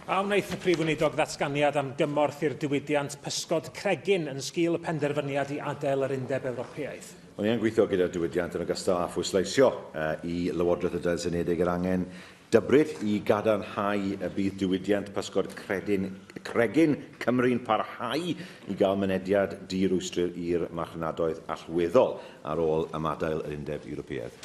A wnaeth y Prif Weinidog ddatganiad am gymorth i'r diwydiant pysgod cregyn yn sgil y penderfyniad i adael yr Undeb Ewropeaidd? Ond ni yn gweithio gyda'r diwydiant yn ogystal â phwysleisio i Lywodraeth y Deyrnas Unedig yr angen dybryd i gadarnhau y bydd diwydiant pysgod credyn, cregyn Cymru'n parhau i gael mynediad di-rwystr i'r marchnadoedd allweddol ar ôl ymadael yr Undeb Ewropeaidd.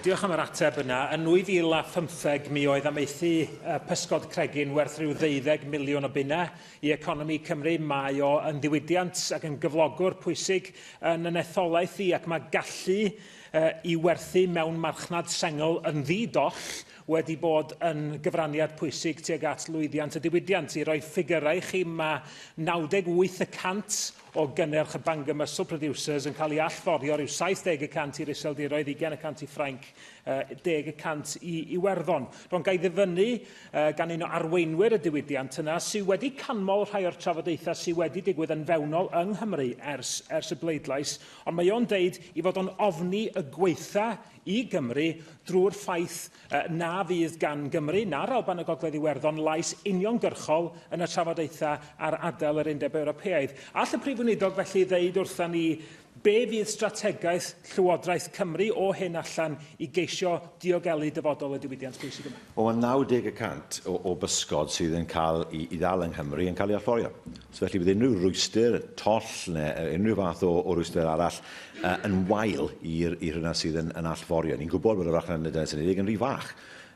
Diolch am yr ateb yna. Yn 2015 mi oedd amaethu uh, pysgod cregyn werth rhyw ddeuddeg miliwn o bunna i economi Cymru. Mae o yn ddiwydiant ac yn gyflogwr pwysig yn yn etholaeth i ac mae gallu uh, i werthu mewn marchnad sengl yn ddi-doll wedi bod yn gyfraniad pwysig tuag at lwyddiant y diwydiant. I roi ffigyrau i chi, mae 98 y cant o gynnyrch y Bangor Muscle Producers yn cael ei allforio rhyw 70 y cant i'r Iseldiroedd, 20 y cant i Ffrainc, 10 y cant i Iwerddon. Ro'n gael ddyfynnu gan un o arweinwyr y diwydiant yna sydd wedi canmol rhai o'r trafodaethau sydd wedi digwydd yn fewnol yng Nghymru ers, ers y bleidlais, ond mae o'n deud i fod o'n ofni y gweitha i Gymru drwy'r ffaith na fydd gan Gymru na'r Alban a Gogledd Iwerddon lais uniongyrchol yn y trafodaethau ar adael yr Undeb Ewropeaidd. All y Prif Weinidog felly ddeud wrthon ni be fydd strategaeth Llywodraeth Cymru o hyn allan i geisio diogelu dyfodol y diwydiant pwysig yma? Wel, mae 90 y cant o, o bysgod sydd yn cael i, i ddal yng Nghymru yn cael ei allforio. So felly bydd unrhyw rwystr, toll neu unrhyw fath o, o rwystr arall uh, yn wael i'r i hynna sydd yn, yn allforio. Ni'n gwybod bod y farchnad yn y Denes Unedig yn rhy fach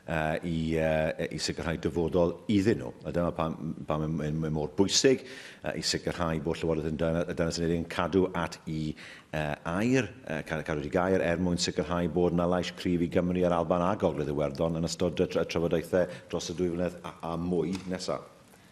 uh, i, uh, i sicrhau dyfodol iddyn nhw. A dyna pam, pam mae, mae mor bwysig uh, i sicrhau bod Llywodraeth yn y Denes Unedig yn cadw at i uh, air, uh, cadw wedi gair er mwyn sicrhau bod yna lais cryf i Gymru a'r Alban a Gogledd Iwerddon yn ystod y trafodaethau dros y dwy flynedd a, a mwy nesaf.